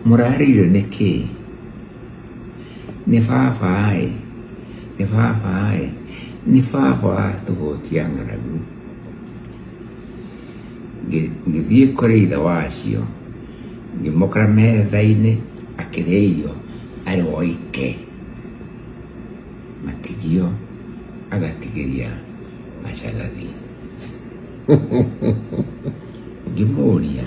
mũrarĩire nĩ kĩĩ nĩ babaĩ nĩ babaĩ nĩ baba tũgũtia ng'aragu Ngĩ- ngĩthiĩ kũrĩ ithe wacio ngĩmũkora metha-inĩ akĩrĩa irio arĩ woike matigio agatigĩria macagathi ngĩmũria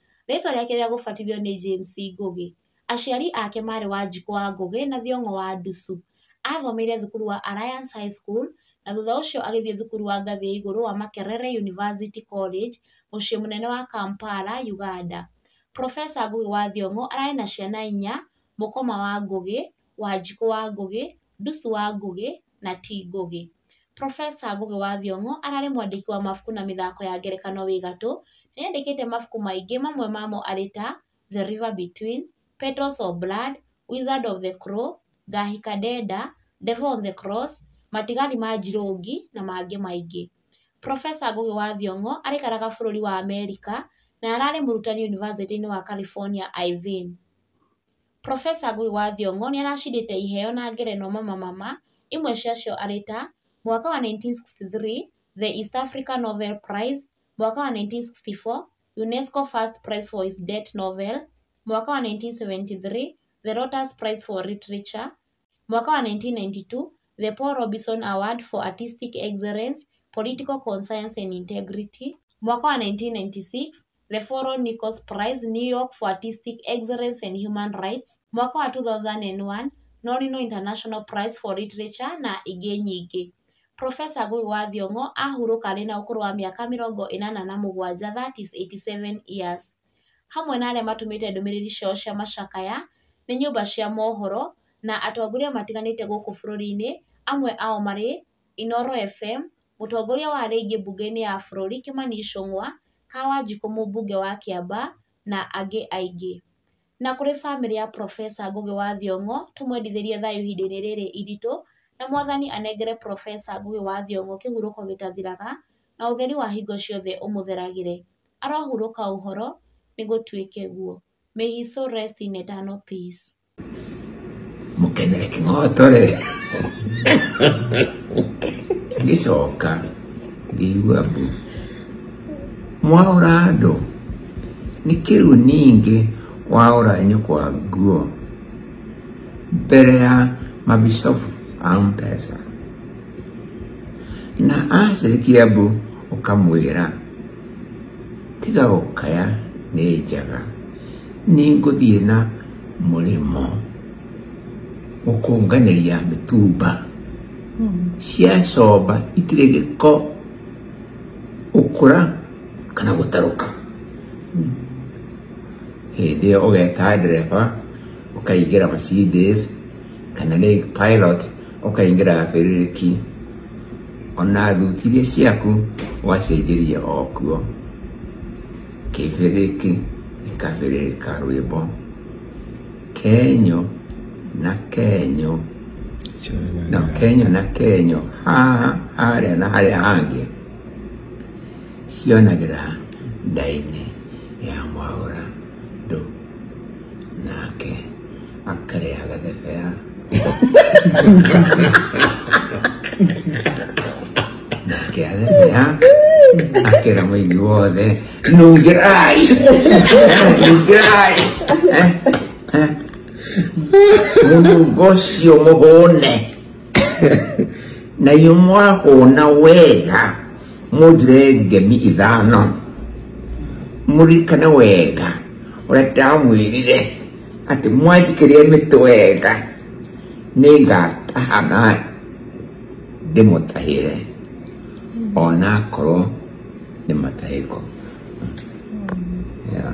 Rĩĩtwa rĩake rĩa gũbatithio nĩ James Ngũgĩ. Aciari ake maarĩ Wanjikũ wa Ngũgĩ na Thiong'o wa Ndusu. Aathomeire thukuru wa Alliance High School na thutha ũcio agĩthiĩ thukuru wa ngathĩ ya igũrũ wa Makerere University College, mũciĩ mũnene wa Kampala, Uganda. Professor Ngũgĩ wa Thiong'o ararĩ na ciana inya, mũkoma wa Ngũgĩ, Wanjikũ wa Ngũgĩ, Ndusu wa Ngũgĩ na Ti Ngũgĩ. Professor Ngũgĩ wa Thiong'o ararĩ mwandĩki wa mabuku na mĩthako ya ngerekano wĩ gatũ. Nĩ andĩkĩte mabuku maingĩ mamwe mamo arĩ ta, The River Between, Petals of Blood, Wizard of the Crow, Ngahika Ndenda, Devil on the Cross, Matigari ma Njirũngi na mangĩ maingĩ. Professor Ngũgĩ wa Thiong'o araikaraga bũrũri wa Amerika na ararĩ mũrutani yunivasĩtĩ-inĩ wa California Irvine. Profesa Ngũgĩ wa Thiong'o nĩ aracindĩte iheo na ngerenwa mamamama, imwe ciacio arĩ ta, mwaka wa 1963, The East Africa Novel Prize, mwaka wa 1964, UNESCO First Prize for His Debt Novel, mwaka wa 1973, The Lotus Prize for Literature, Mwaka wa 1992, The Paul Robeson Award for Artistic Excellence, Political Conscience and Integrity, Mwaka wa 1996, The Foro Nichols Prize, New York for Artistic Excellence and Human Rights, Mwaka wa 2001, Nonino International Prize for Literature na ingĩ nyingĩ. Profesa Ngũgĩ wa Thiong'o ahurũka arĩ na ũkũrũ wa mĩaka mĩrongo ĩnana na mũgwanja, that is 87 years. hamwe na arĩa matũmĩte ndũmĩrĩri ciao cia macakaya nĩ nyũmba cia mohoro na atongoria matiganĩte gũkũ bũrũri-inĩ, amwe ao marĩ Inooro FM, mũtongoria wa arĩa aingĩ mbunge-inĩ ya bũrũri Kimani Ichung'wa, Kaa Wanjikũ mũmbunge wa Kĩamba na angĩ aingĩ. Na kũrĩ bamĩrĩ ya Profesa Ngũgĩ wa Thiong'o tũmwendithĩrie thayũ ihinda-inĩ rĩrĩ iritũ na Mwathani anengere Profesa Ngũgĩ wa Thiong'o kĩhurũko gĩtathiraga na ũtheri wa hingo ciothe ũmũtheragĩre. Arohurũka ũhoro, nĩgũtuĩke guo. May his soul rest in eternal peace. mũkenere kĩng'oto rĩ ngĩcoka ngĩigua mbu mwaũra andũ nĩ kĩu ningĩ waũra nyũkwa nguo mbere ya mabicobu a mpesa Na acirĩkia mbũ ũkamwĩra, tiga gũkaya nĩ njaga, nĩ ngũthiĩ na mũrĩmo gũkũnganĩria mĩtumba. Cia comba itirĩ gĩko gũkũra kana gũtarũka. Hĩndĩ ĩyo ũgeta ndereba ũkaingĩra Mercedes. kana Lake Pilot ũkaingĩra bĩrĩrĩki ona thuti iria ciaku wacenjeria okuo kĩbĩrĩki gĩkabĩrĩrĩka rwĩmbo kenyo na kenyo na kenyo na kenyo haha harĩa na harĩa hangĩ cionagĩra ndainĩ ya mwaũra do nake akarĩa gathebea nake athebea akĩra mũini wothe nungĩrai nungĩrai Eh, eh. mũnungo ũcio mũhũne na inyuĩ mwahũna wega mũthirenge mi ithano mũririkane wega ũrĩa ndamwĩrire atĩ mwanjikĩria mĩtĩ wega nĩ ngataha na ndĩmũtahĩre ona akorwo nĩ matahĩko yeah.